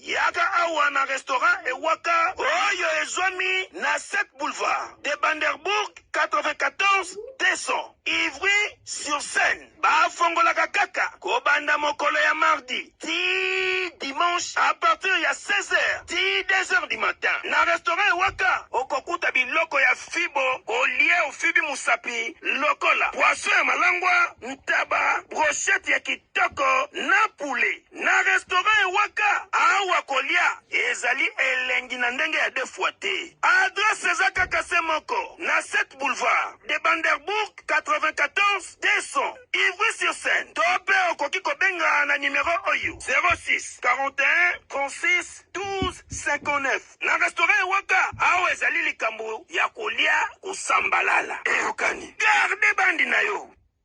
Yaka awa na restaurant Ewaka oyo ezwami na 7 boulevard de Banderbourg 94 200 Ivry sur Seine. Bafongolaka kaka kobanda mokolo ya mardi tii dimanche à partir ya 16 heures tii 2 heures du matin. Na restaurant Ewaka okokuta biloko ya fibo olie ofibi mosapi lokola poisson ya malangwa, ntaba, brochette ya kitoko. Kitoko na poulet na restaurant ya waka awa kolia ezali elengi na ndenge ya deux fois te adresse eza kaka se moko na 7 boulevard de Banderbourg 94 200 Ivry sur Seine to pe okoki kobenga na numero oyo 06 41 36 12 59 na restaurant ya waka awa ezali likambo ya kolia kosambalala eyokani garde bandi na yo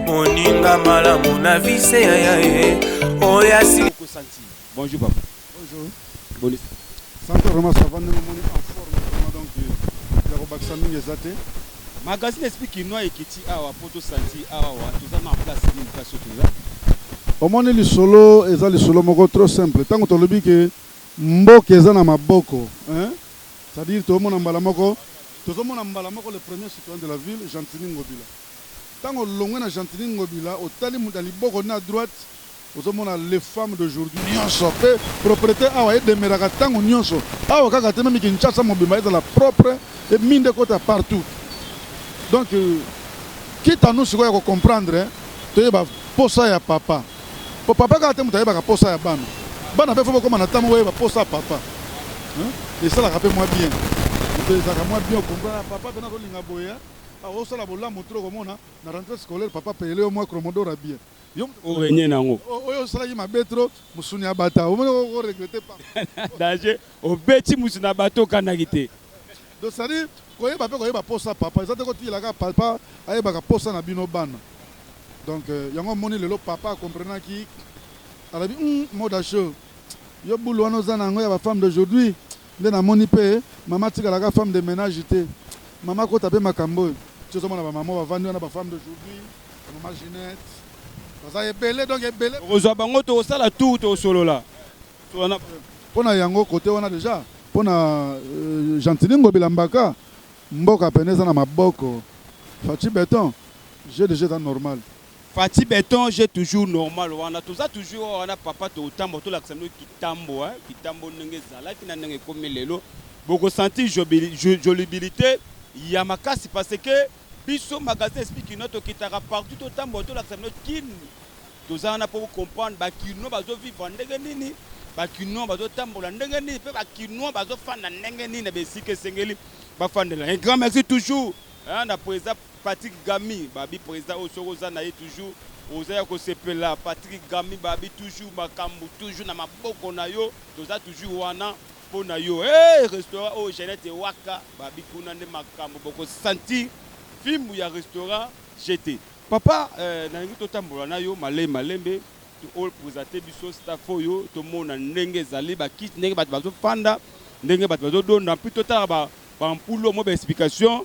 moninga malamu na vise ya ya ye oyo asi bonjour papa bonjour boni santé vraiment ça va ndenge omoni en forme vraiment donc ya kobakisa mingi eza te magazine esprit kinois ekiti awa mpo tosanti awa toza na place nini place oyo toza omoni lisolo eza lisolo moko trop simple ntango tolobi ke mboka eza na maboko c'est-à-dire tozomona mbala moko tozomona mbala moko le premier citoyen de la ville gentini ngobila Tango olongwe na Gentiny Ngobila otali mutu ya liboko na droite ozo mona les femmes d'aujourd'hui nionso pe proprete awa e demeuraka tango nionso awa kaka te meme Kinshasa mobimba ezala propre et minde ekota partout donc quitte à nous sikoyo ya ko comprendre toyeba posa ya papa po papa kaka te mutu ayebaka posa ya bana bana pe faut bokoma na temps moko boyeba posa ya papa esalaka pe mwa bien mutu ezalaka mwa bien o comprendre papa pena azo linga boye Ah osala bolamu trop komona na rentree scolaire papa apayele yo mwa cromodor ya bien yo mutu o regne nango oyo osalaki mabe trop musuni ya bata omoni oko regrette pamba danger obeti mutu na bata okanaki te. Donc c'est à dire koyeba pe koyeba posa papa eza te ko tiyela kaka papa ayebaka posa na bino bana donc yango omoni lelo papa a comprenaki alobi hum moda show yo boule wana oza na yango ya ba femme d'aujourd'hui Nde na moni pe maman atikala ka femme de menage te maman akota pe makambo oyo ti ozo mona ba maman ba vandi wana ba femme d'aujourd'hui ba maman Ginette baza ebele donc ebele Okozua bango toko sala tour toko solola solola na bango. Pona yango cote wana dejà pona Gentiny Ngobila Mbaka mboka pena eza na maboko Fatshi Beton jeu dejà eza normal. Fatshi beton je toujours normal wana toza toujours awa na papa tokotambwa tolakisa bino kitambo hein kitambo ndenge ezalaki na ndenge ekomi lelo boko sentir jolibilite ya makasi parce que biso magasin esprit kinois tokitaka partout totambwa tolakisa bino kin toza wana po comprendre ba kinois bazo vivre ndenge nini ba kinois bazo tambola ndenge nini pe ba kinois bazo fanda ndenge nini na besika esengeli bafandela un grand merci toujours hein na president Patrick Gamy babi president oyo soki oza naye toujours oza ya kosepela Patrick Gamy babi toujours makambu toujours na maboko nayo toza toujours wana pona yo hee restaurant oyo Jeannette waka babi kuna nde makambu boko sentir fimbu ya restaurant jete. Papa eh nalingi totambola nayo male malembe to o presenter biso staff oyo tomona ndenge ezali ba kiti ndenge batu bazo fanda ndenge batu bazo donda puis totala ba ba ampoule omoi ba explication.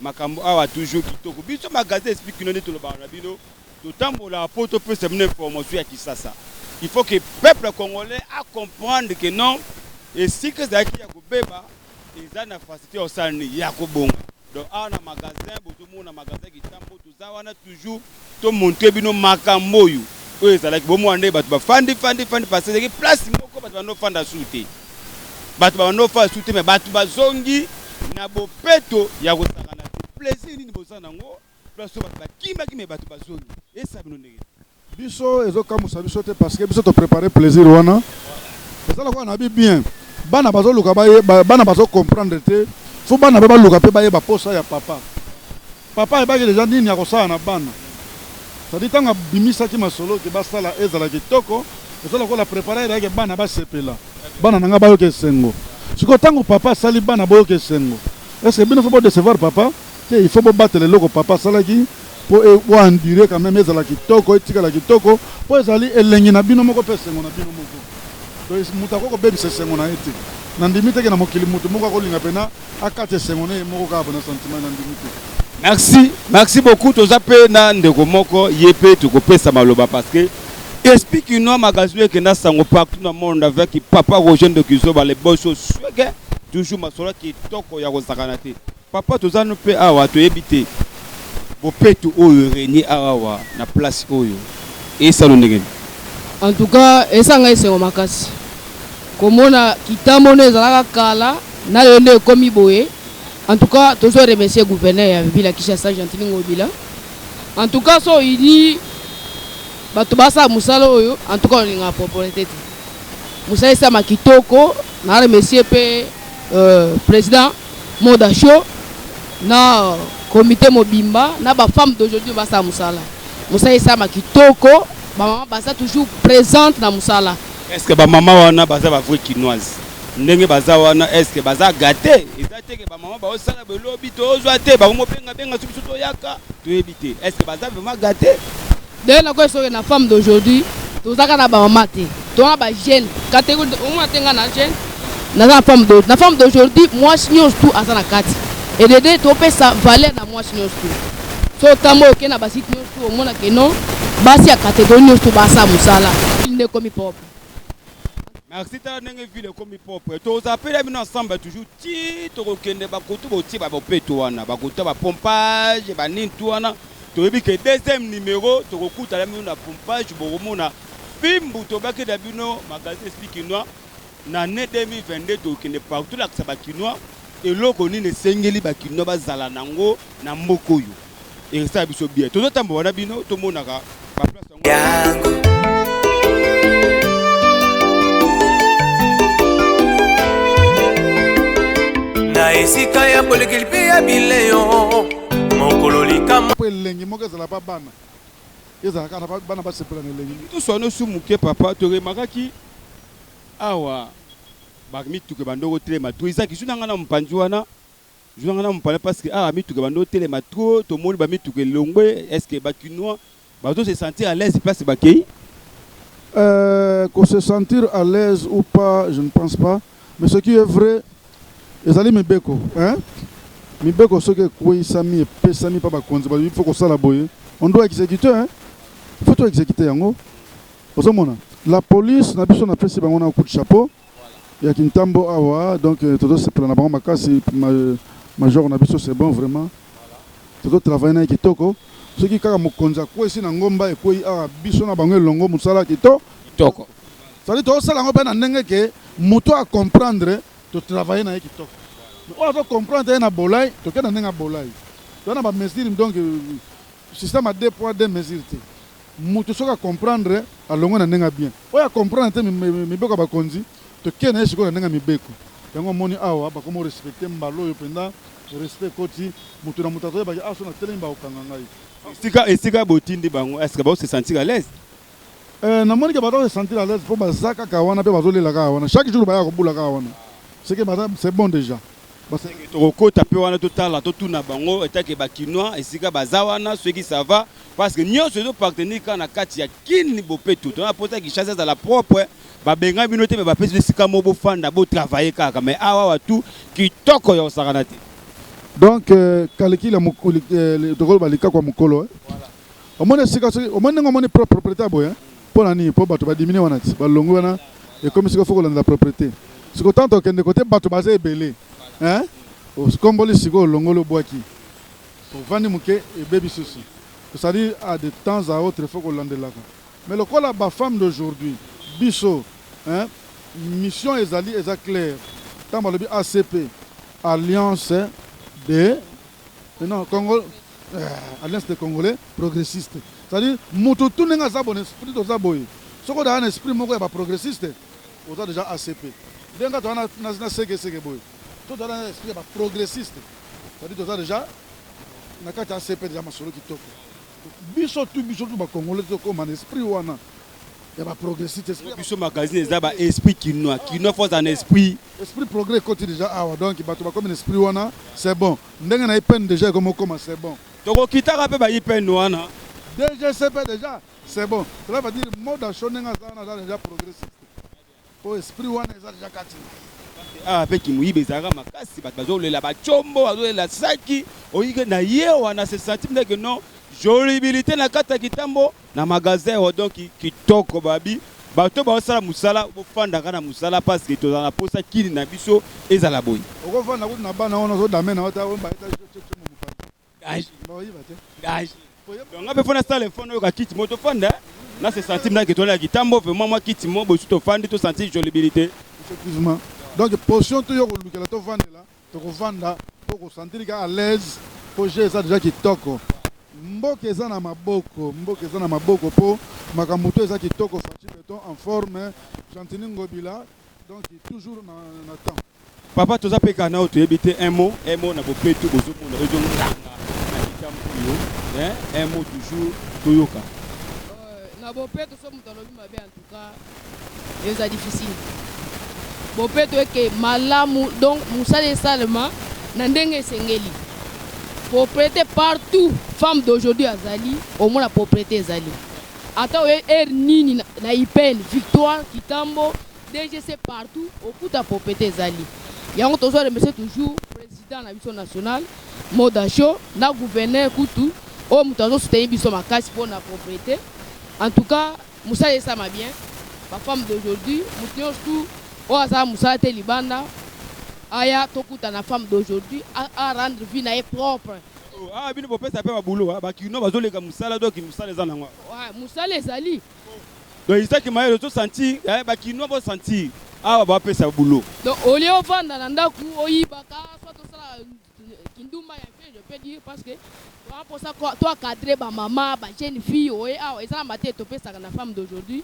Makambo awa toujours kitoko biso magasin esprit kino nde tolobaka na bino totambolaka po topesa bino information ya kisasa il faut que peuple congolais a comprendre que non esika ezalaki ya kobeba eza na facilite ya kosala nini ya kobonga donc awa na magasin bozomona magasin kitambo Toza wana toujours to montrer bino makambo oyo oyo ezalaki bo mona ndenge batu ba fandi fandi fandi parce que ezalaki place moko batu bando fanda sous te batu ba bando fanda sous te mais batu ba zongi na bopeto ya kosakana te plaisir nini boza na ngo place oyo batu ba kimaki mais batu ba zongi esa bino ndenge Biso ezo kamuisa biso te parce que biso to preparer plaisir wana eza lokola na bi bien bana bazo luka ba bana bazo comprendre te faut bana pe baluka pe baye ba posa ya papa papa ayebaki deja nini akosala na bana sadi ntango abimisaki masolo ke basala ezala kitoko eza lokola preparer yake bana basepela bana na ngai bayoka esengo sikoyo ntango papa asali bana boyoka esengo est ce que bino faut bo decevoir papa Te il faut bo batela eloko papa asalaki po bo endurer quand meme ezala kitoko etikala kitoko po ezali elengi na bino moko pe esengo na bino moko donc mutu akoki kobebisa esengo na ye te na ndimi te ke na mokili mutu moko akolinga pena akata esengo na ye moko kaka pona sentiment na ndimi te. Merci merci beaucoup toza pe na ndeko moko ye pe tokopesa maloba parce que esprit kinois magazine ekenda sango partout na monde avec papa Roger ndoki zoba le boss au suege toujours masolo kitoko ya kosakana te. Papa toza no pe awa toyebi te bopeto oyo regne awa na place oyo esalo ndenge nini? En tout cas esa nga esengo makasi komona kitambo nde ezalaka kala na lelo nde ekomi boye en tout cas tozo remercier gouverneur ya ville ya Kinshasa Gentiny Ngobila en tout cas so oyini batu basala musala oyo en tout cas olingaka proprete te musala esalama kitoko na remercier pe euh, president Moda show na comite mobimba na ba femmes d'aujourd'hui basala musala musala esalama kitoko ba maman baza toujours presente na musala Est ce que ba maman wana baza ba vrai kinoise ndenge baza wana est ce que baza gate eza te ke ba maman ba osala belobi tozwa te ba omo benga benga soki soto yaka toyebi te est ce que baza vraiment gate D'ailleurs nakoki soki na femme d'aujourd'hui toza kaka na ba maman te toza na ba jeune catégorie omona te nga na jeune naza na femme d'aujourd'hui na femme d'aujourd'hui mwasi nyonso tout aza na kati edede topesa valeur na mwasi nyonso tout so otambo oke na basite nyonso tout omona ke non basi ya catégorie nyonso tout basa mosala nde ekomi propre merci tala ndenge ville ekomi propre tozapela bino ensemble toujours ti tokokende bakutu botie babopeto wana bakuta bapompage banini tu wana Toyebi que deuxième numero tokokutana bino na pompage bokomona fimbu tobaki na bino magasin esprit kinois na annee 2022 tokokende partout tolakisa ba kinois eloko nini esengeli ba kinois bazala nango na mboka oyo ekosala biso bien tozotambola na bino tomonaka ba place na esika ya bolekeli mpe ya bileyo mokolo likama mpo elengi moko ezala ba bana ezalaka na bana basepela na elengi toswana su moke papa toremakaki awa bamituka ebandoko telema toizaki su na ngai na mopanzi wana Zua nga na mupala parce que awa mituka ebandi otelema trop tomoni ba mituka elongwe est ce que ba kinois bazo se sentir à l'aise place bakeyi? Euh ko se sentir à l'aise ou pas je ne pense pas mais ce qui est vrai ezali mibeko hein mibeko soki ekweyisami epesami pa bakonzi balobi faut kosala boye on doit executer hein faut to executer yango ozomona la police na biso napesi bango na coup de chapeau. ya kintambo awa donc euh, tozosepela na bango makasi major na biso c'est bon vraiment tozotravaille na ye kitoko soki kaka mokonzi akwesi na ngomba ekwei awa biso na bango elongo mosala kito kitoko sali tozosala yango mpe na ndenge ke moto acomprendre totravaille na ye kitoko oyo azocomprendre ye na bolai tokenda ndenge ya bolai toza na bamesure donc système ya deux poids deux mesure te Mutu soki a comprendre alongwe na ndenge ya bien. Oyo a comprendre te mibeko ya bakonzi toke na ye sikoyo na ndenge ya mibeko. Yango omoni awa bakomi ko respecter mbala oyo penza respect ekoti mutu na mutu azo yeba ke awa soki na telemi bako kanga ngai. Esika esika bo tindi bango est ce que bazo se sentir à l'aise? Eh na moni ke baza ko se sentir à l'aise po baza kaka wana pe bazo lela kaka wana chaque jour ba yaka ko bula kaka wana ce que baza c'est bon dejà. Toko kota pe wana to tala to tuna bango etant que ba kinois esika baza wana soki ça va. Parce que nionso ezo partenir kaka na kati ya kin bopeto to na pota Kinshasa ezala propre ba benga bino te mais ba pesi bino esika moko bo fanda bo travailler kaka mais awa awa tout kitoko ya kosakana te Donc euh, kalikila mokuli euh, tokolo balika kwa mokolo eh. voilà. Omoni esika soki omoni ndenge omoni pro- propriété ya boye eh? mpo na nini mpo bato badimine wana ti balongwi wana ekomi sikoyo fo kolandela propriété sikoyo ntango tokende kote bato baza ebele eh? okomboli sikoyo olongoli obwaki Ovandi muke ebebi susu. Cestadire a de temps a autre faut kolandelaka mais lokola ba femme d'aujourd'hui biso hein mission ezali eza claire tango balobi ACP alliance de non Congo eh, alliance de congolais progressiste cestadire mutu tu ndenge aza bone esprit toza boye soki odaya na esprit moko ya ba progressiste oza deja ACP ndenge toza na seke seke boye To zala na esprit ya ba progressiste. Ça dit toza dejà na kati ya ACP dejà masolo kitoko. Biso tout biso tout ba congolais to koma na esprit wana ya ba progressiste. Esprit ya ba. Biso magazine eza ba esprit kinois. Kinois faut azala na esprit. Esprit progrès ekoti dejà awa donc batu ba komi na esprit wana c'est bon. Ndenge na IPN dejà ekomi okoma c'est bon. Toko kitaka pe ba IPN wana. DGCP dejà c'est bon. Cela veut dire Mode Asho ndenge aza wana aza dejà progressiste. Po esprit wana eza dejà kati na ye. Awa pe kimuyibi ezalaka makasi batu bazo lela ba tshombo bazo lela saki oyike na ye wana se sentir nde que non jolibilite na kati ya kitambo na magasin oyo donc kitoko babi batu oyo bazo sala musala bo fandaka na musala parce que tozala na posa kin na biso ezala boye. Oko fanda kutu na bana wana ozo dame na yo ta omba ye ta tshotshotshombo mopanzi. donc nga mpe fona sala effort nayoka kiti mo tofanda na se sentir mna ke tolala kitambo vraiment mwa kiti mo bosu tofandi to sentir jolibilité effectivement donc position to yo kolukela tovandela tokovanda to kosentir ka à l'aise mpo jeu eza deja kitoko mboka eza na maboko mboka eza na maboko mpo makambo to eza kitoko faci beton en forme gentini ngobila donc toujours na, na temps Papa toza pe kaka nao toyebi te un mot un mot na bopeto bozo mona ezo nganga na likambu oyo hein un mot toujours toyoka. Euh, na bopeto soki moto alobi mabe en tout cas eza difficile. Bopeto eke malamu donc mosala esalema na ndenge esengeli. Propriete partout femme d'aujourd'hui azali omona propriete ezali ata oye heure nini na na ipn victoire kitambo DGC partout okuta popete ezali yango tozo remercier toujours president na biso national Moda Show na gouverneur kutu oyo moto azo soutenir biso makasi mpo na propriete en tout cas mosala esama bien ba femme d'aujourd'hui moto nyonso tu oyo azala mosala te libanda aya tokuta na femme d'aujourd'hui a rendre vie na ye propre oh, ah bino bopesa pe ba boulot ah, ba kino bazoleka musala donc musala eza nango ah, musala ezali Donc Isaac Mayele ozo sentir eh, ba kinois bo sentir awa ba pesa boulot. Donc au lieu ovanda na ndaku oyibaka soit tosala kindumba ya vie je peux dire parce que toa posa to encadrer ba maman ba jeune fille oye awa eza na mate topesaka na femme d'aujourd'hui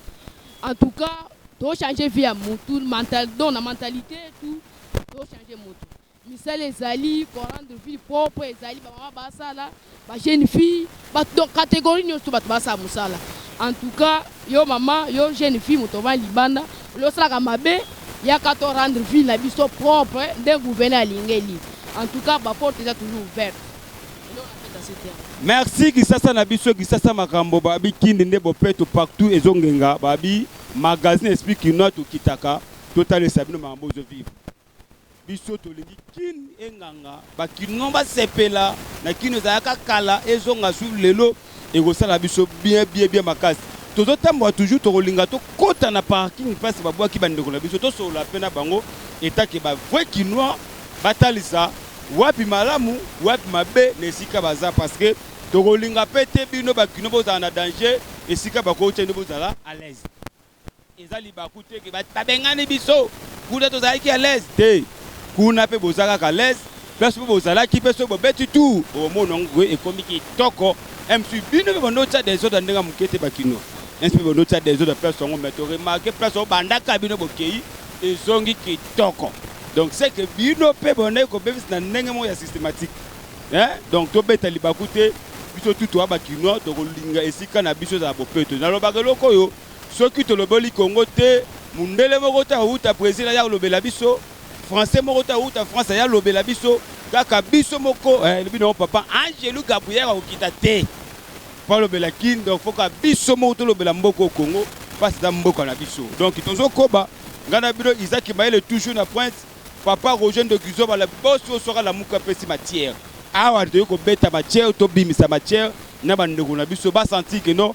en tout cas to changer vie ya mutu mental donc na mentalité tout to changer mutu Misala ezali ko rendre ville propre ezali ba maman ba sala ba jeune fille batu donc categorie nioso batu ba sala musala en tout cas yo maman yo jeune fille moto ovandi libanda olingi osalaka mabe yaka to rendre ville na biso propre nde gouverneur alingeli en tout cas ba porte eza toujours ouverte eloko na pesa se terme Merci kisasa na biso kisasa makambo babi kindi nde bopeto partout ezo ngenga babi magazine esprit kinois tokitaka totalisa bino makambo ozo vivre. Biso tolingi kin enganga ba kinois ba sepela na kin ezalaka kala ezonga sur lelo ekosala biso bien bien bien makasi tozo tambola toujours tokolinga to kota na parking place ba bwaki ba ndeko na biso to solola pe na bango etant que ba vrai kinois ba talisa wapi malamu wapi mabe na esika baza parce que tokolinga pe te bino ba kinois bozala na danger esika bako tia bino bozala alaise. Eza libaku te que ba bengani biso kuna tozalaki à l'aise te kuna pe boza kaka à l'aise place pe bozalaki pe soki bobeti tour bokomona yango que ekomi kitoko même si bino pe banda otia desordre ndenge ya muke te ba kinois neti pe banda otia desordre place yango mais to remarquer place yango bandaka bino bokeyi ezongi kitoko donc c'est que bino pe bondaki kobebisa na ndenge moko ya systématique hein donc tobeta libaku te biso tout toza ba kinois tokolinga esika na biso ezala bopeto nalobaka eloko oyo Soki toloboli Congo te, mundele moko te akowuta Bresil aya kolobela biso, français moko te akowuta France aya kolobela biso, kaka biso moko eh, elobi na yo papa Angelu Gabriel akokita te po alobela Kin, donc faut kaka biso moko tolobela mboka oyo Congo, pasi eza mboka na biso, donc tozo koba, ngai na bino Isaac Mayele toujours na pointe, papa Roger Ndokizoba le boss oyo soki alamuki apesi matière, awa toye kobeta matière, tobimisa matière na ba ndeko na biso ba sentir que non,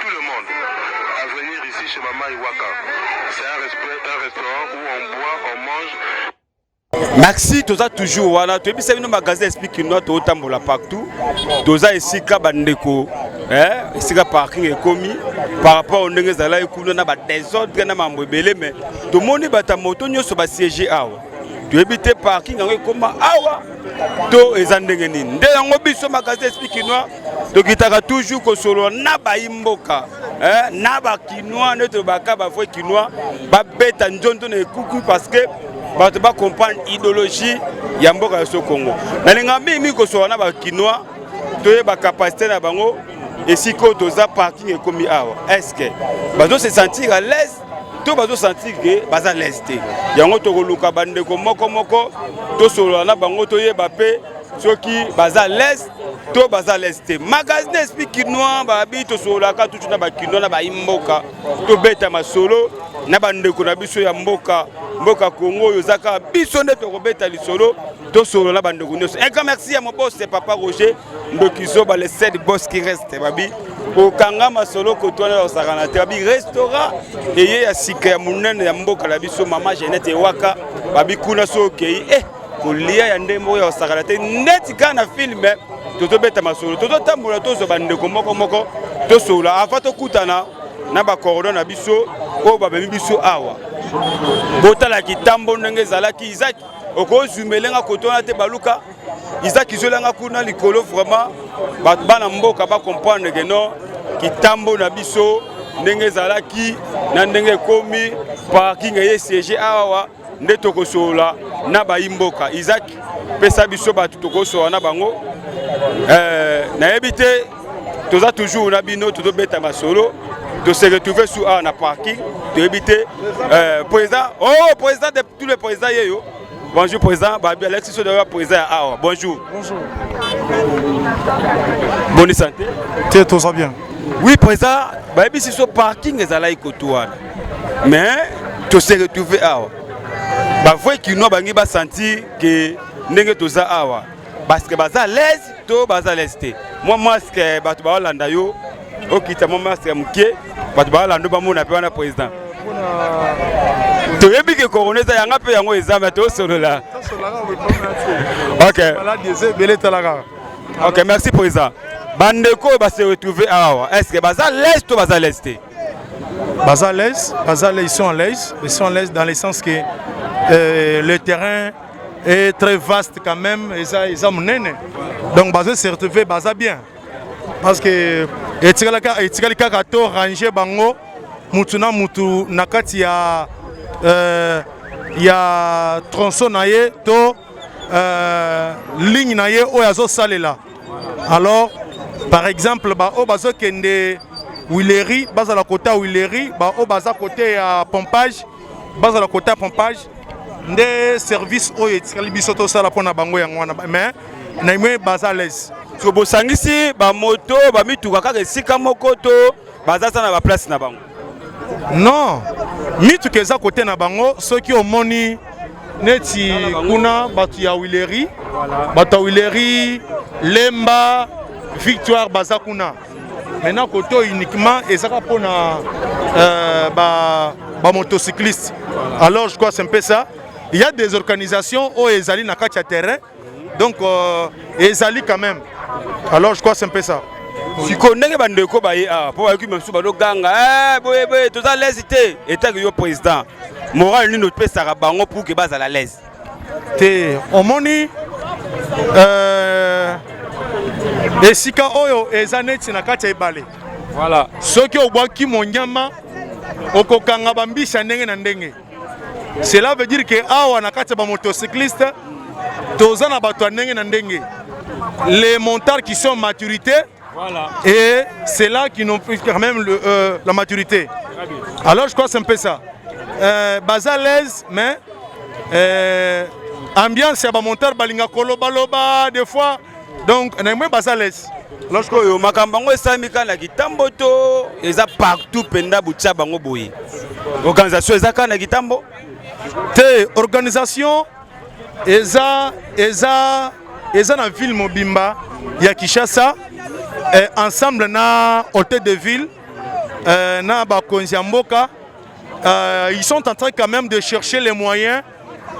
Tout le monde a venir ici chez maman Iwaka. C'est un, respect, un restaurant où on boit, on mange. Merci, toza toujours wana toyebisa bino magasin esprit kinois totambola partout toza esika bandeko eh, esika parking ekomi par rapport au ndenge ezalaki kuna na badesordre na mambo ebele mais tomoni bato ya moto nyonso basiege awa toyebi te parking yango ekoma awa to eza ndenge nini nde yango biso magasin esprit kinois tokitaka toujours kosolola na bayi mboka eh, na bakinois nde tolobaka bavrai kinois babeta nzondo na ekuku parce que bato bacomprendre idéologie ya mboka ya so congo nalingaka mingi mingi kosolola na bakinois toyeba capacité na bango esika oyo toza parking ekomi awa est ce que bazo se sentir à l'aise to bazo sentir ke baza lese te yango tokoluka bandeko moko moko tosolola na bango toyeba mpe soki baza lese to baza lese te magazine esprit kinois babi tosololaka tutu na bakinois na baimboka tobeta masolo na bandeko na biso ya mboka mboka kongo oyo eza kaka biso nde tokobeta lisolo tosolola na bandeko nyonso un grand merci ya mobose papa roger ndoki zoba le sed boss qui reste babi kokanga masolo kotwana kosakana te babi restaurant eye ya sika ya monene ya mboka na biso mama genete ewaka babi kuna so okei e eh, kolia ya ndembo oyo ya kosakana te neti kaka na filme tozobeta masolo tozotambola tozwa bandeko moko moko tosolola avant tokutana na bakordo na biso oyo bamemi biso awa botala kitambo ndenge ezalaki izaki okozumela nga koto wana te baluka Isaac Izoelanga kuna likolo vraiment bato bana mboka ba comprendre que non kitambo na biso ndenge ezalaki na ndenge ekomi parking eye siège awa nde tokosolola na bayi mboka Isaac pesa biso bato tokosolola na bango eh, nayebi te toza toujours na bino tozobeta masolo de se retrouver sur awa na parking toyebi te euh, président oh président de tous les présidents yeyo Bonjour président, Babi Alexis Sodo ya président ya awa. Bonjour. Bonjour. Bonne santé. T'es tous bien. Oui président, Babi si so parking ezalaki kotu wana. Mais to se retrouver awa. Ba vrai kinois bangi ba sentir que ndenge toza awa. parce que baza l'aise to baza l'aise te mwa masque bato baolanda yo okita mwa masque ya moke bato baolanda bamona mpe wana président toyebi ke corona eza yanga mpe yango eza me tosolola ok merci président bandeko oyo base retrouve awa est ce que baza l'aise to baza l'aise te baza l'aise baza l'aise sont à l'aise ils sont à l'aise dans le sens que euh, le terrain et très vaste quand même eza eza munene donc bazo se retrouver baza bien parce que etikala ka etikali kaka to ranger bango mutu na mutu na kati ya euh, ya tronçon na ye to euh, ligne na ye oyo azo salela alors par exemple ba oyo bazo kende Huilerie bazala kota Huilerie ba oyo baza kote ya pompage bazala kota pompage nde service oyo etikali biso tosala mpo na bango yango wana mais na imwe baza à l'aise so bosangisi bamoto bamituka kaka esika moko to baza za na baplace na bango non mituka eza kote na bango soki omoni neti kuna bato ya wileri bato ya wileri lemba victoire baza kuna maintenant kote oyo uniquement ezaka mpona euh, bamotocycliste ba alors je crois c'est un peu ça il y a des organisations oyo ezali na kati ya terrain donc euh, ezali quand même alors je crois c'est un peu ça sikoyo ndenge bandeko baye awa ah, mpo bayoki misusu bazoganga eh, boye boye toza lese te etaki yo président morale nini opesaka bango pour ke bazala lese te omoni euh, esika oyo eza neti na kati ya ebale voilà. soki obwaki monyama okokanga bambisi ya ndenge na ndenge cela veut dire ke awa na kati ya bamotocycliste toza na bato ya ndenge na ndenge les montards qui sont maturité Voilà. Et c'est là qu'ils n'ont plus quand même le, euh, la maturité. Alors je crois que c'est un peu ça. Euh, bas à l'aise, mais euh, ambiance ya bamontar balinga kolobaloba des fois donc na moi bas à l'aise. Alors je crois que makambo yango esalami kaka na kitambo to eza partout mpenza botya bango boye organisation eza kaka na kitambo te organisation eza eza eza na ville mobimba ya Kinshasa eh, ensemble na hôtel de ville eh, na bakonzi ya mboka eh, ils sont en train quand même de chercher les moyens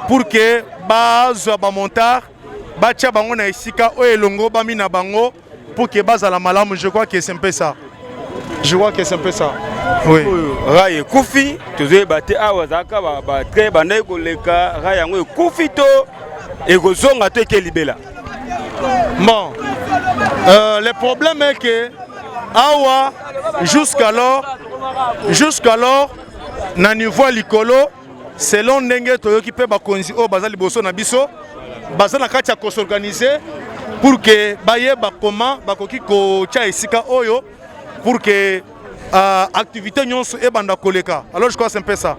pour que bazwa bamontard batya bango na esika oyo elongobami na bango Pour que bazala malamu, je crois que c'est un peu ça. Je crois que c'est un peu ça. Oui. Rai ekufi, tozoyeba te awa azalaka batrain bandaki koleka rai yango ekufi to ekozonga to eke libela. Bon, euh, le problème est que awa jusqu'alors jusqu'alors na niveau ya likolo selon ndenge toyoki mpe bakonzi oyo baza liboso na biso baza na kati ya kosorganize pour ke bayeba koma bakoki kotya esika oyo pour ke uh, activité nyonso ebanda koleka alors je crois c'est un peu ça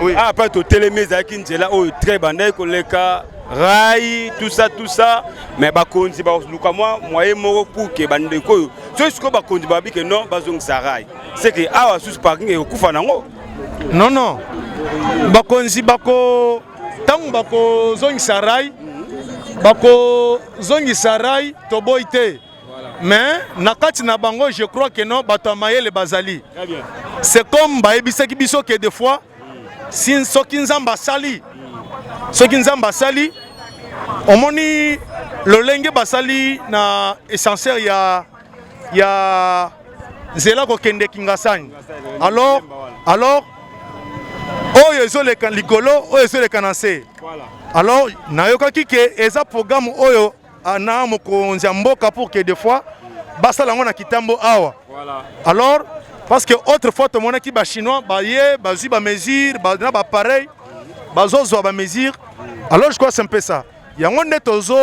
oui. ah, après totelemi ezalaki nzela oyo très bandaki koleka rai tout ça tout ça mais bakonzi baluka mwa moye moko pour ke bandeko oyo soki sikoyo bakonzi babi ke non bazongisa rai c'est ke awa susu parking ekokufa nango Non non. Bakonzi bako tangu bako zongisa rai bako zongisa rai toboyi te. Mais na kati na bango je crois que non bato ya mayele bazali. C'est comme bayebisaki biso que des fois si soki Nzambe asali soki Nzambe asali omoni lolenge basali na essentiel ya ya nzela kokende kingasani alors alors oyo ezoleka likolo oyo ezoleka na nse alors nayokaki ke eza programme oyo ah, na mokonzi ya mboka pour que des fois basala yango na kitambo awa alors parce que autrefois tomonaki bachinois baye bazwi bamesure na bapareil bazozwa bamesure alors je crois c'est un peu ça yango nde tozo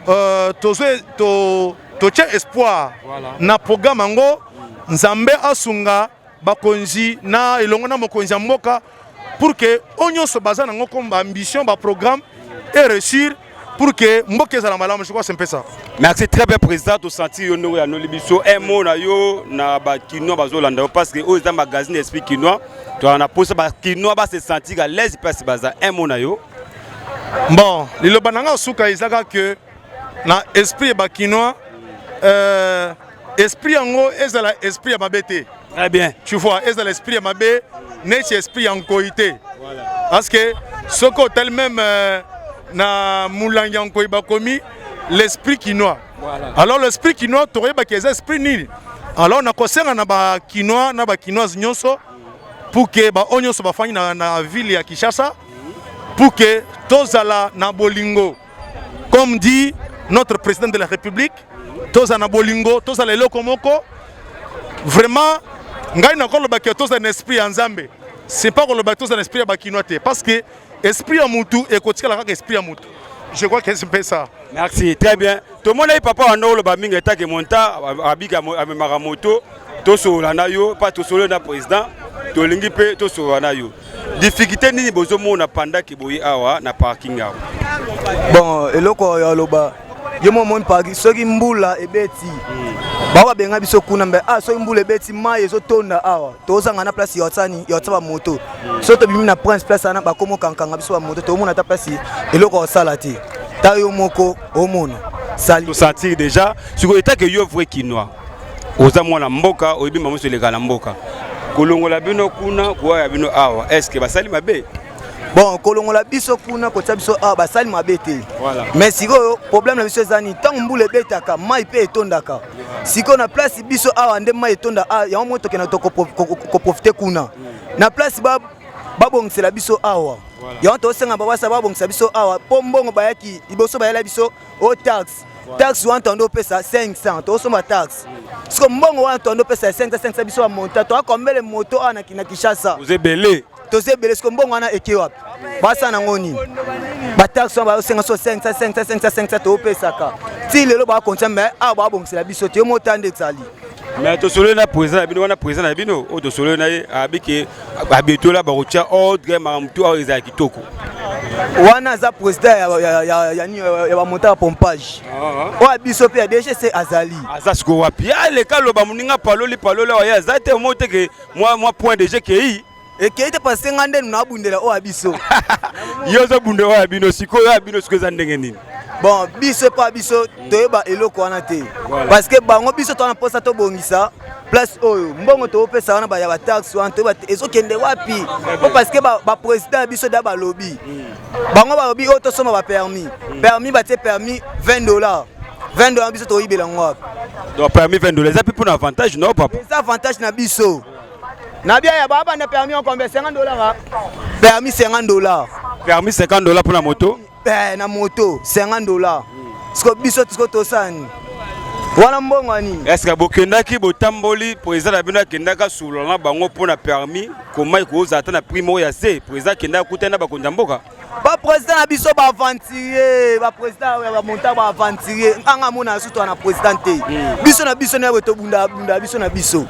euh, tozo to totie espoir voilà. na programme yango nzambe asunga bakonzi na elongo na mokonzi ya mboka pour que oyo nyonso baza nango comme baambition baprogramme e réussir pour que mboka ezala malamu je crois c'est un peu ça merci très bien président tosenti yo ndenge oyanoli biso un mot na yo na bakinois bazolanda yo parce que oyo eza magazine esprit kinois toyana na mposa bakinois base sentir à l'aise place baza un mot na yo Bon, liloba na nga suka ezaka que na esprit ba kinois euh, esprit yango ezala esprit ya mabe te. Très bien. Tu vois, ezala esprit ya mabe neti esprit ya nkoi te. Voilà. Parce que soki otali même euh, na molangi ya nkoi bakomi l'esprit kinois. Voilà. Alors l'esprit kinois tokoyebaki eza esprit nini? Alors nakosenga na ba kinois na ba kinoise nyonso pour que ba oyo nyonso bafandi na, na ville ya Kinshasa pour que tozala na bolingo comme dit notre président de la république tozala na bolingo tozala eloko moko vraiment ngai nakoloba ke tozala na esprit ya nzambe c'est pas koloba tozala na esprit ya bakinois te parce que esprit ya mutu ekotikala kaka esprit ya mutu je crois que mpesa merci très bien tomonaki papa wanda oloba mingi etake monta abika amemaka moto tosolola na yo mpa tosololi na président tolingi mpe tosolola na yo difficulté nini bozomona pandaki boye awa na parking awa bon eloko oyo aloba ye mwa omoni parking soki mbula ebeti hmm. bao babenga biso kuna mbe a ah, soki mbula ebeti mai ezotonda awa tozanga na place ya otsani ya otsa bamoto soki tobimi na prince place wana bakomo kankanga biso bamoto tomona ata place eloko osala te ta yo moko omona salisatire déjà sikoyo etake yo vrai kinois oza mwana mboka oyebi mbango nyonso eleka na mboka kolongola bino kuna kowa ya bino awa est ce que basali mabe bon kolongola biso kuna kotia biso awa ah, basali mabe te mais sikoyo problème na biso eza nini ntango mbula ebetaka mai mpe etondaka sikoyo na place biso awa nde mai etonda ah, yango moi tokenda koprofite kuna na place ba babongisela biso awa yango tosenga babasa babongisa biso awa mpo mbongo bayaki liboso bayela biso o tax tax wana toando opesa 500 tosomba tax siko mbongo wana toando opesa 500 500 biso bamonta toakombele moto awa na kinshasa ebele toza ebele siko mbongo wana eke wapi basala nango nini bataxe wana bayosenga so 500 500 500 500 toopesaka ti lelo bakontia mai awa babongisela biso te yo mota nde ezali mais tosololi na président na bino wana président na bino oyo tosololi na ye abi ke babetola bakotya ordre makambo to awa ezala kitoko wana aza président ya bamonta ya pompage ah. oyo biso mpe ya dgc azali aza sikoyo wapi aleka loba moninga paloli paloli awa ye aza te omoi te ke mwa point dg kei ekei te parce que ngai nde nabundela oyo ya biso yo ozobunda oyo ya bino sikoyo oyo ya bino sikoyo eza ndenge nini bon biso epa biso toyeba eloko wana te parce que bango biso towana mposa tobongisa place oyo mbongo topesa wana ya bataxe wana toyeba te ezokende wapi po parce que baprésident ya biso da balobi hmm. bango balobi oyo oh, tosomba bapermis hmm. permis batie permis 20 dollars 20 dollars biso toyibela yango wapi donc permis 20 dollars eza mpe mpo na avantage no papa eza avantage na biso Na bia ya ba banda permis en combien 50 dollars. Hein? Permis 50 dollars. Permis 50 dollars pour la moto Eh na moto 50 dollars. Ce que biso ce que to sani. Wana mbongo nini? Est-ce que bokendaki botamboli président na bino akendaka sous na bango pour na permis comment ikoza ata na prix moko ya se président akendaka kutana bakonzi ya mboka? ba président na biso ba aventurier ba président oyo ba monta ba aventurier anga mona sutu na président te hmm. biso na biso nayo tobunda bunda biso na biso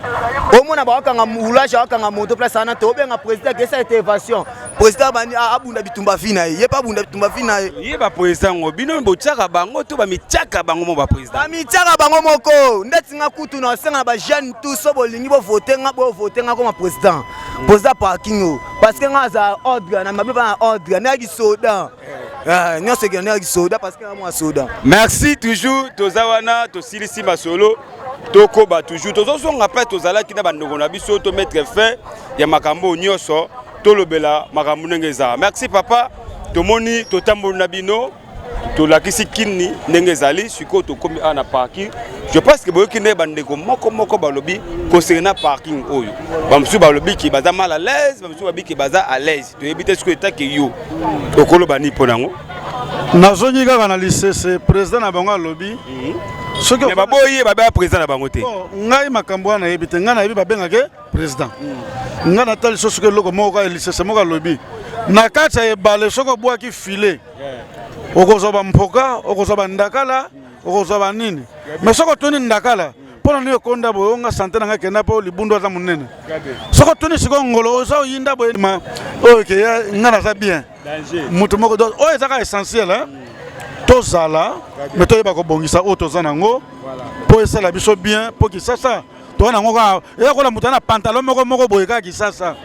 omona bakanga roulage akanga moto place ana te obenga président kesa ete évasion président abandi abunda bitumba vi na ye ye mpe abunda bitumba vi na ye ye baprésident ngo bino botyaka bango to bamityaka bango mo baprésident bamityaka bango moko ndeti nga kutu na osenga na bajeune tu so bolingi bovote nga bovote nga koma président boza parking oyo parce que nga aza ordre na mabe bana ordre na kisoda eh, nyonso ekende na kisoda parce que nga mwa soda merci toujours toza wana tosilisi masolo tokoba toujours tozozonga mpe tozalaki na bandeko na biso to mettre fin ya makambo nyonso tolobela makambo ndenge eza merci papa tomoni totamboli na bino tolakisi kini ndenge ezali sikoyo tokomi awa na parking je pense que boyoki nde bandeko moko moko balobi concernant parking oyo bamosusu balobi ke baza mal à l'aise bamosusu babi ke baza à l'aise toyebi te sikoyo etake yo okoloba nini mpo na yango nazongi kaka na lisese président na bango alobi mhm. soki baboyi ye babea président na bango te oh, ngai makambo wana nayebi te ngai nayebi babengake président mhm. ngai natali sosoki eloko moko lisese moko alobi na kati ya ebale soki obwaki filet okozwa bampoka okozwa bandakala okozwa banini mais soki otuni ndakala mpo na nini okonda boye onga sante na ngai kenda mpo libundu aza monene soki otuni sikoyo ngolo oza oyinda boye ma oyo ekeya ngai naza bien moto moko do oyo ezaka essentiel eh? tozala me toyeba kobongisa oyo toza nango mpo esala biso bien mpo kisasa toza nango kaka eyakola moto ya na pantalon moko moko boye kaka kisasa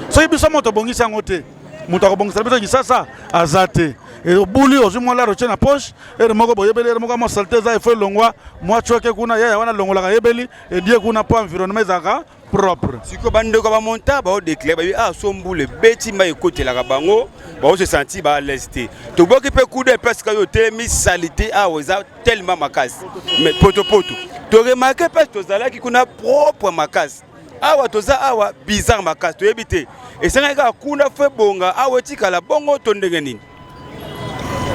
soki biso moto tobongisi yango te moto akobongisela biso kisasa aza te obuli ozwi mwa laro tye na poche ere moko boyebeli ere moko mwa salite eza efo elongwa mwa coke kuna yaya wana alongolaka yebeli edie kuna mpo environnement ezalaka propre sikoyo bandeko bamonta baodeklare bayebi a ah, so mbula ebeti mai ekotelaka bango baose santi ba alaise te toboki mpe kuda epe sika yo otelemi salite awa ah, eza tellement makasi mais potopoto toremake mpe tozalaki kuna propre makasi awa toza awa bizarre makasi toyebi te esengaki kaka kuna fo ebonga awa etikala bongo to ndenge nini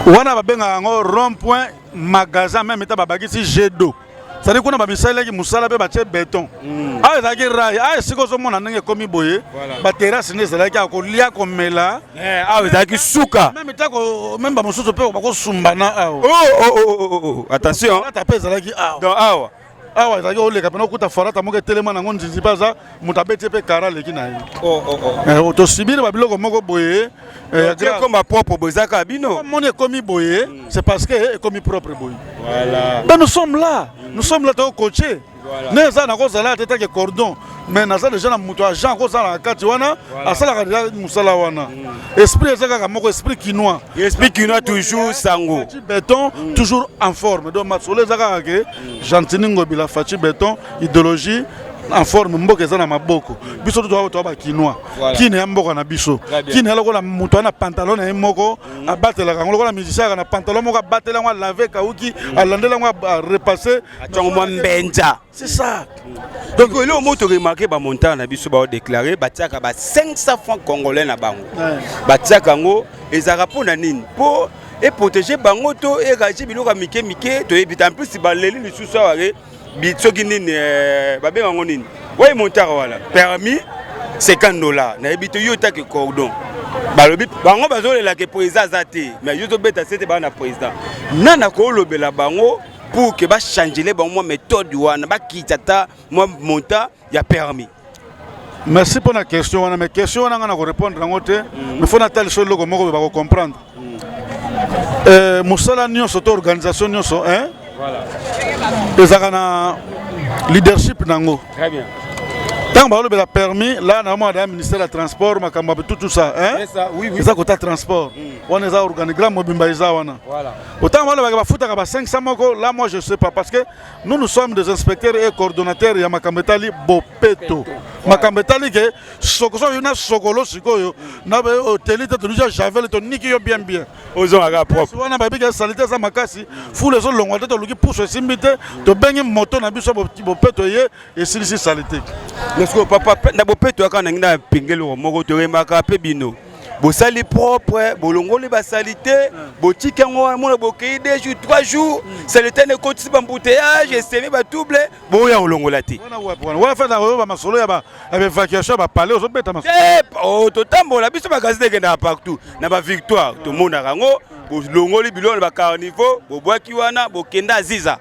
wana babengaka yango rond point magasin meme eta babakisi jet d'eau sadi kuna bamisalelaki mosala mpe batye beton hmm. awa ezalaki rai awa esika ozomona ndenge ekomi boye baterase nde ezalaki ya kolia komela eh, awa ezalaki suka meme bamosusu mpe bakosumbana awa oh, oh, oh, attention mpe ezalaki awa awa ezalaki oleka mpena okuta farata moko etelema nango nzinzi mpe aza moto abeti mpe kara aleki na ye oh, oh, oh. eh, tosibiri babiloko moko boye eh, ekoma propre boye eza kaka bino moni ekomi boye hmm. c'est parce que eh, ekomi propre boye ben nous sommes là hmm. nous sommes là tokokoce ne eza nakozala te take cordon mais naza deja na moto ya jean akozala na kati wana asalaka deja mosala wana hmm. esprit eza kaka moko esprit kinois esprit kinois toujours sango beton toujours en forme donc masolo eza kaka ke Gentini Ngobila Fatshi Beton idéologie en forme mboka eza na maboko biso to toa ba kinois kine ya mboka na biso kine ya lokola moto ana pantalon na ye moko mm. abatelaka yango lokola musicien aka na pantalon moko abatela yango alave kauki mm. alandela yango arepasse atongo mwa mbenza c'est ça donc eloko moko toremarke bamontant na biso baodéclare batiaka ba 500 francs congolais na bango batiaka yango ezalaka mpo na nini mpo e protege bango to e réagir biloko ya mike mike toyebi te en plus baleli lisusu awa ke soki nini eh, babenga yango nini oye montaka wana permis 50 dollars nayebi te yo otaki cordon balobi bango bazolela ke président aza te mais yo tobeta sete baa na président nani akolobela bango pour ke bachangele bango mwa méthode wana bakita ata mwa montant ya permis merci mpo na question wana mais question wana ngai na korépondre yango te mm. mais fo natali so eloko moko bakocomprendre mm. euh, mosala nyonso to organisation nyonso ezalaka na leadership na yango ntango balobela permis la na mwana ya ministère ya transport makambo ya tout ça eza kota transport mm. wana eza organigramme mobimba eza wana otango balobaka bafutaka ba 500 moko la moi je sais pas parce que Nous, nous sommes des inspecteurs et coordonnateurs ya makambo etali bopeto makambo etali ke sokoso yo na sokolo sikoyo na oteli te tolija javel toniki yo bien bien ozongaka propre wana bayebi ke salite eza makasi fulu ezolongwa te toluki pusu esimbi te tobengi moto na biso bopeto eye esilisi salite mais sikoyo papa na bopeto yaka nangi na pingeli moko toyembaka mpe bino bosali propre bolongoli basalite botiki yango wana mona bokei de jour trois jours mm. salite na ekotisi bambouteillage esemi batouble boya kolongola te masolo ya baévacuation ya bapale ozobeta eh, oh, totambola biso magazine ekendaka partout na bavictoire tomonaka yango bolongoli biloko na bacarniveau bobwaki wana bokenda aziza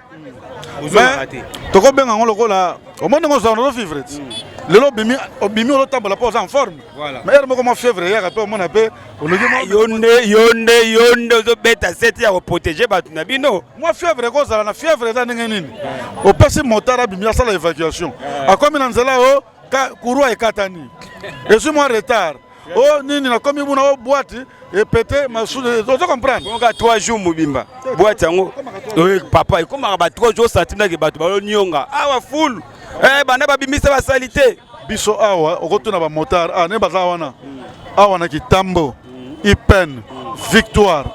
tokobenga yango lokola omoni ndenge ozala nazo vivre ti mm. lelo obimi obimi olotambola mpo oza en forme ma heure moko mwa fièvre eyaka mpe omona mpe ologi ah, yo nde yo nde yo nde ozobeta seti ya koprotege bato na bino mwa fièvre ekozala na fièvre eza ndenge nini opesi motard abimi asala évacuation akomi na nzela o Ka, kurua ekatani ezwi mwa retard o oh, nini nakomi buna o oh, bwati epete masude ozo comprendre oka 3 jours mobimba bwati yango eh, papa ekomaka ba 3 jours satinaki bato balonionga awa fulu eh, banda babimisa basali te biso awa okotuna bamotard awa ah, ne baza wana awa na kitambo ipene victoire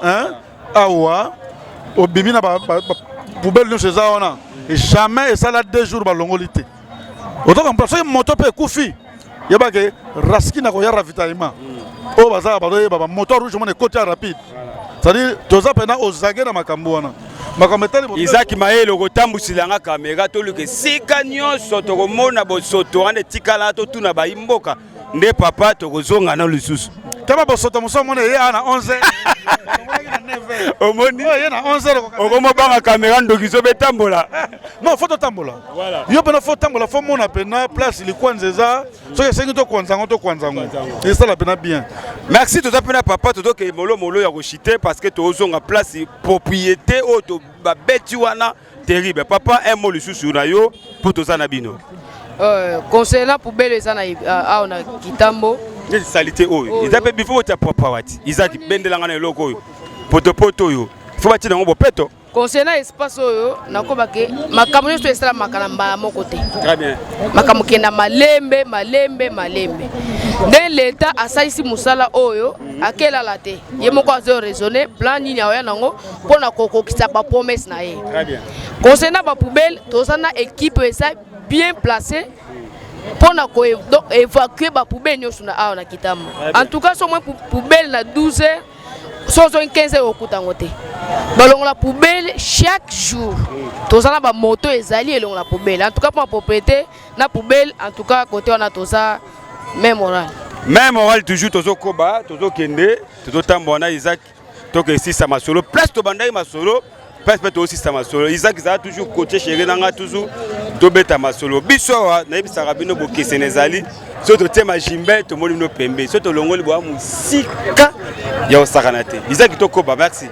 awa obimi na poubele nyonso eza wana jamais esala deux jours balongoli te ozo comprendre soki moto mpe ekufi yeba ke raski na koya ravitaillement oyo bazala bazoyeba bamoto rouge mona ekoti ya rapide c'est-à-dire toza mpena ozage na makambo wana makambo etali izaki mayele okotambwisela nga kamera toluka esika nyonso tokomona bosoto wana etikala totuna bayi mboka nde papa tokozonga na lisusu taba bosoto mosusu amona eye awa na 11 omoni okomobanga kamera ndoki zobe etambola non fo totambola yo mpena fo tambola fo mona mpena place likwanza eza soki esengi tokwanza yango tokwanza yango esala mpena bien merci toza mpena papa tozokende molomolo ya koshite parce que tozonga place propriété oyo babeti wana terrible papa un mot lisusu na yo mpo toza na bino euh, conseil na poubele eza na euh, awa na kitambo neti salite oyo eza mpe bifo botya papa wati eza kibendelanga na eloko oyo potopoto oyo fo batia nango bopeto conseil na espace oyo nakoba ke makambo nyonso esalamaka na mbala moko te makambo kenda malembe malembe malembe nde leta asalisi mosala oyo akelala te ye moko azo raisonne plan nini aoya nango mpo na kokokisa ba promesse na ye concernant ba poubelle toza na équipe eza bien placée mpo na koévacue ba poubelle nyonso na awa na kitama en tout cas so mwa poubelle na 12 heures so ozongi 15 heures okuta yango te balongola poubelle chaque jour toza na bamoto ezali elongola poubelle en tout cas mpo na propriété na poubelle en tout cas kote wana toza même oral même oral toujours tozokoba tozokende tozotambola na isaac toke esisa masolo place tobandaki masolo place mpe tosisa masolo isak ezala toujours coache chéri na ngai toujours tobeta masolo biso awa nayebisaka bino bokesene ezali soki totie majimbe tomoni bino pembe soki tolongoli boya mosika ya kosakana te izaki tokoba merci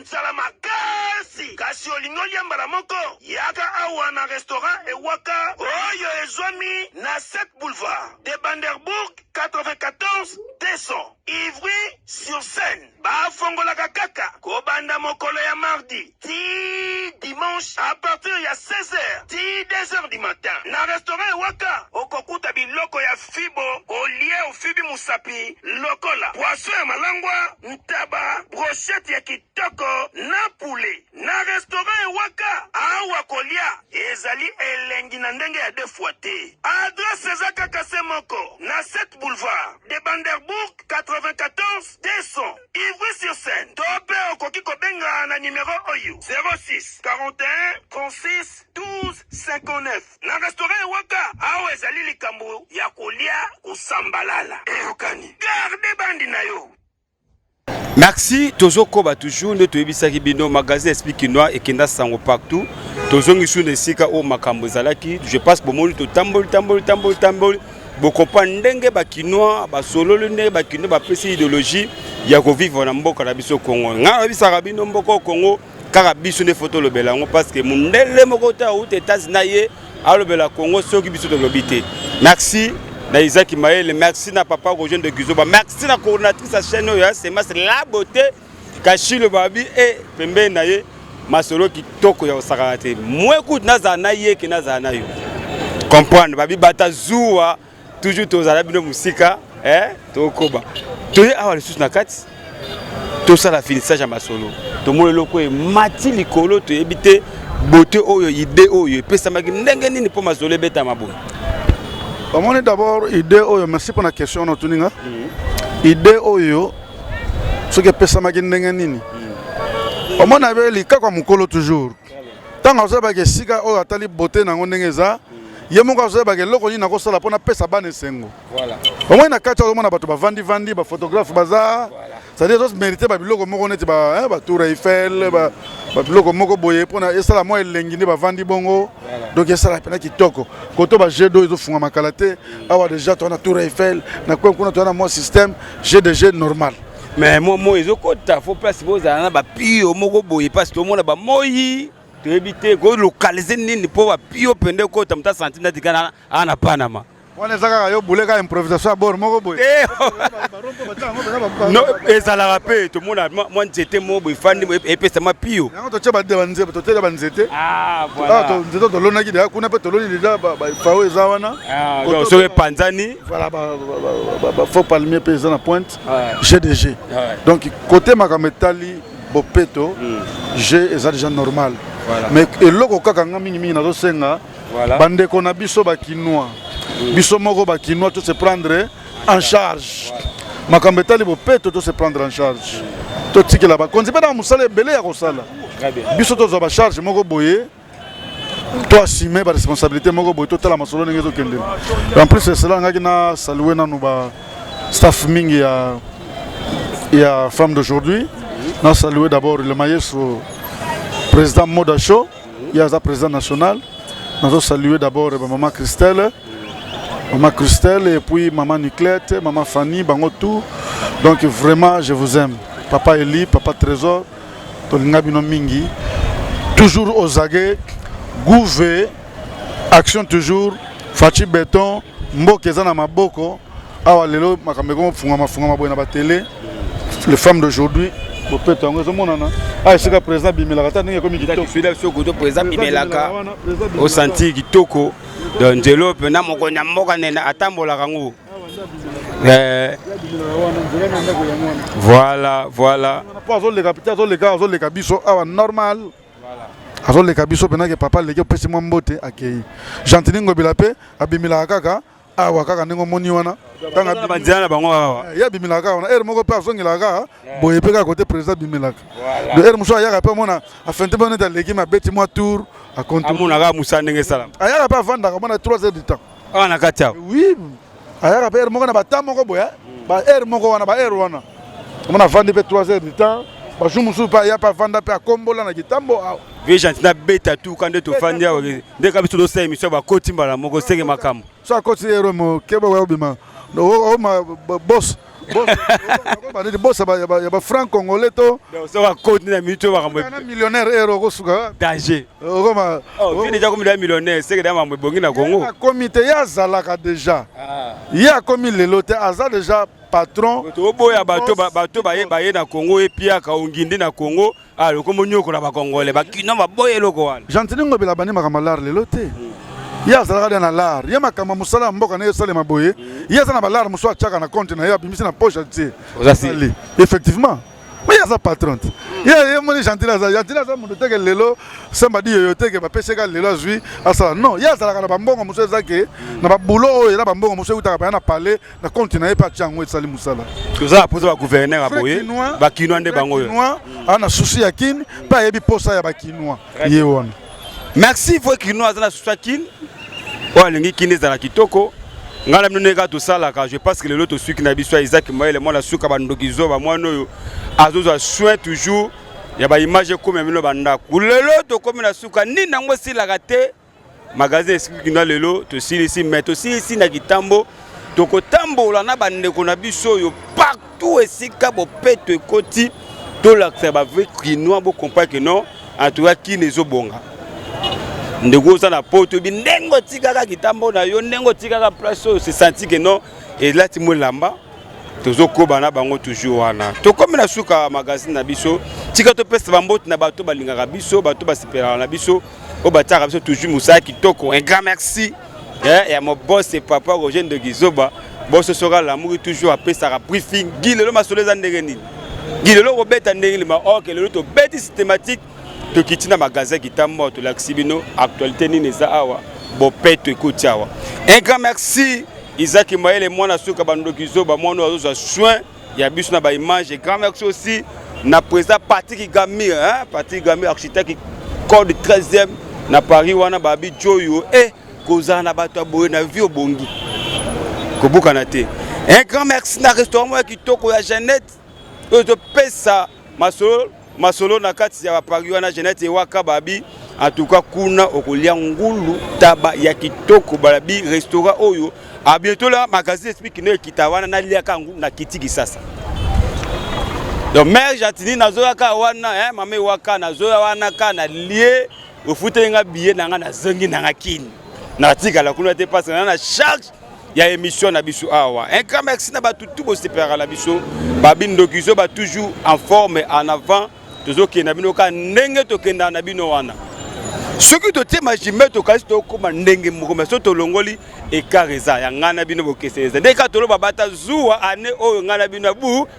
nzala makasi kasi olingi olia mbala moko Yaka awa na restaurant Ewaka oyo ezwami na 7 boulevard de Banderbourg 94 200 Ivry sur Seine. Bafongolaka kaka kobanda mokolo ya mardi tii dimanche à partir ya 16 heures tii 2 heures du matin. Na restaurant Ewaka okokuta biloko ya fibo olie ofibi mosapi lokola poisson ya malangwa, ntaba, brochette ya kitoko na poulet. Na restaurant ya waka awa kolia ezali elengi na ndenge ya de fois te. Adresse eza kaka se moko na 7 boulevard de Banderbourg 94 200 Ivry-sur-Seine to pe okoki kobenga na numero oyo 06 41 36 12 59. Na restaurant ya waka awa ezali likambo ya kolia kosambalala eyokani. Garde bandi na yo. Merci, tozo koba toujours nde toyebisaki bino magasin explique kinois ekenda sango partout. Tozongi sur esika oyo makambo ezalaki. Je pense bomoni totamboli tamboli tamboli tamboli. Bokopa ndenge ba kinois basololi ndenge ba kinois bapesi ideologie ya kovivre na mboka na biso Congo. Ngai nayebisaka bino mboka Congo kaka biso nde fo tolobela yango parce que mondele moko te auta etats na ye alobela congo soki biso tolobi te merci na isaki mayele merci na papa rogen de guizoba merci na coordinatrice ya chaîne oyo ya semas la beauté kashilo babi e pembeni na ye masolo kitoko ya kosakana te mwe kutu nazala na ye ke nazala na yo comprendre babi bata zuwa toujours tozala bino mosika eh, tokoba toye awa lisusu na kati tosala finissage ya masolo tomoni eloko emati likolo toyebi te bote oyo ide oyo epesamaki ndenge nini mpo masolo ebetama boye omoni d'abord ide oyo merci mpona question na otuni nga mhm. ide oyo soki epesamaki ndenge nini mhm. omoni abe likakwa mokolo toujours ntango azoyebaka esika oyo atali bote na yango ndenge eza ye moko azoyebaka eloko nini nakosala mpo napesa bana esengo omoi na kati ozomona bato bavandivandi baphotographe baza cetadire ezomerite babiloko moko neti batour eh, eiffel babiloko moko boye mpona esala mwa elengi nde bavandi bongo donc esala mpena kitoko koto ba jeu d'eau ezofungamaka la te awa deja toa na tour eiffel na kwen kuna toa na mwa système jeu de jeu normal mais mwa moi ezokota fo place bozala na bapio moko boye mpasi tomona bamoi toyebi te kolokalize nini mpo bapio mpende ekota moto asanti natikana aa na panama wana eza kaka yo bule kaka improvisation ya bor moko boye eh, oh. ezalaka mpe tomona mwa nzete moko boye efandi e-, epesa mapio yango totye banzete totyela banzete ah, ah, nzete tolonaki deja kuna mpe toloni deja bafao eza wana ah, soki epanzani faux palmier mpe eza na pointe jeu de jeu donc kote makambo etali bopeto hmm. jeu eza déjà normal mais eloko kaka nga mingimingi nazosenga bandeko na biso bakinois hmm. biso moko bakinois to se prendre en charge makambo etali bopeto to se prendre en charge hmm. totikela bakonzi mpe na mosala ebele ya kosala biso tozwa bacharge moko boye to assume ba responsabilité moko boye totala masolo ndenge ezokende en plus esala ngaki na salue nanu ba staff mingi ya ya femme d'aujourd'hui na salue d'abord le maestro président moda show ye aza président national nazo salue d'abord ba maman christelle maman christelle et puis maman niclette maman fanny bango tout donc vraiment je vous aime papa eli papa trésor Tolinga bino mingi. Toujours aux aguets. Gouve. Action toujours. Fatshi Beton. Mboka eza na maboko. Awa lelo makambo ekomo fungama fungama boye na ba tele. Les femmes d'aujourd'hui. Bopeto yango ezomonana. Ah esika président bimelaka ta ndenge ekomi kitoko. Fidèle soko to président bimelaka. Osanti kitoko. Donc nzelo mpe na mokonzi ya mboka nene atambolaka ngo. Eh. Voilà, voilà. Po azoleka pita azoleka azoleka biso awa normal. azoleka biso mpena ke papa aleki opesi mwa mbote akei gentini ngobila mpe abimelaka kaka awa kaka ndenge omoni wana banzela na bango awa eh, ye abimelaka kaka wana ere moko mpe azongelaka kaka eh. boye mpe kaka kote président abimelaka do ere mosusu ayaka mpe amona afente mpe neti aleki mabeti mwa tour akontomonaka mosala ndenge esalama ayaka mpe afandaka mona 3 heures du temps awa na kati awa oui ayaka mpe heure moko na bata moko boye hein. hmm. ba heure moko wana ba heure wana omona avandi mpe 3 heures du temps bajour mosusu mpe aya mpe avanda mpe akombola na kitambo awa vie gentil nabeta tuka nde tofandi awa nde ka biso tosala émission bakoti mbala moko senge makambo so akoti ero mokeba oya obima bos bosa ya ba franc congolais to soka koti na mitu makambo na millionnaire ero okosuka danger okoma oh, deja komi da millionnaire seke da mambo ebongi na congo akomi te ye azalaka deja ah. ye akomi lelo te aza deja patron toboya bato baye na congo epiaka ongindi na congo Ah, le combo nyoko na ba congolais, ba kino ba boye loko wana. Gentini ngobela bani makambo lar lelo te. Mm. Ye azalaka dia na lar, ye makambo mosala ya mboka na ye esalema boye, mm. ye aza na ba lar mosusu atiaka na compte na ye abimisi na poche atie. Ozali. Effectivement. Mais ye aza patron te. Ye ye moni Gentini aza, Gentini aza moto teke lelo semba di yoyo teke ba peseka lelo azui asala. Non, ye azalaka na ba mbongo mosusu ezake mm. na ba boulot oyo ela ba mbongo mosusu eutaka pa na palais na compte na ye mpe atya yango esali mosala toza na mposa bagouverneur ya boye bakinois nde bango oyo aa na susi ya kin mpe ayebi mposa ya bakinois ye wana merci voi kinois aza na susi ya kin oyo alingi kin ezala kitoko ngai na bino ndenge kaka tosalaka je pense que lelo tosuki na biso ya isaki mayele mwana suka bandoki zoba mwana oyo azozwa soin toujours ya baimage ekomi ya bino bandako lelo tokomi na suka nini yango esilaka te Magazine Esprit Kinois lelo tosilisi mais tosilisi na kitambo tokotambola na bandeko na biso oyo partout esika bopeto ekoti tolakisa bavrai kinois bokomprendre ke non antuka kini ezobonga ndeko oza na poto bi ndenge otikaka kitambo na yo ndenge otikaka place oyo sesanti ke non elati mo elamba tozokoba na bango toujours wana tokomi na suka magazine na biso tika topesa bamboti na bato balingaka biso bato basepelaka na biso oyo batiaka biso toujours mosala kitoko un grand merci eh, ya mobose papa roger ndogizoba boso soka lamuki toujours apesaka briefing gi lelo masolo eza ndenge nini gi lelo kobeta ndenge nini maok lelo tobeti systématique tokiti na magasin kitambo tolakisi bino actualité nini eza awa bopeto ekoti awa un grand merci izaki mayele mwana suka bandoki zoba mwana oyo azozwa soin ya biso na ba image grand mère aussi na président Patrick Gamir hein Patrick Gamir architecte code 13e na Paris wana babi Joyo eh kozala na bato ya boye na vie obongi kobukana te un grand merci na restaurant moko ya kitoko ya Jeannette oyo ezopesa masolo masolo na kati ya bapari wana jeanette ewaka babi antuka kuna okolia ngulu taba ya kitoko balabi restaurant oyo abietola magazine espiki no ekita wana naliaka yango na kiti kisasa donc mare jatini nazoyaka wana eh, mama ewaka nazoya wana ka na lie ofuteli nga biye na nga nazongi na nga kini natikala kuna te mpasi na na charge ya émission na biso awa un grand merci na bato tout bosepelaka na biso babindokizo ba toujours en forme en avant tozokenda bino kaka ndenge tokendaka na bino wana soki totie majime tokanisi tokoma ndenge moko mai so tolongoli ekar eza ya ngai na bino bokeseni eza ndenge kaka toloba bata zuwa ane oyo ngai na bino ya bu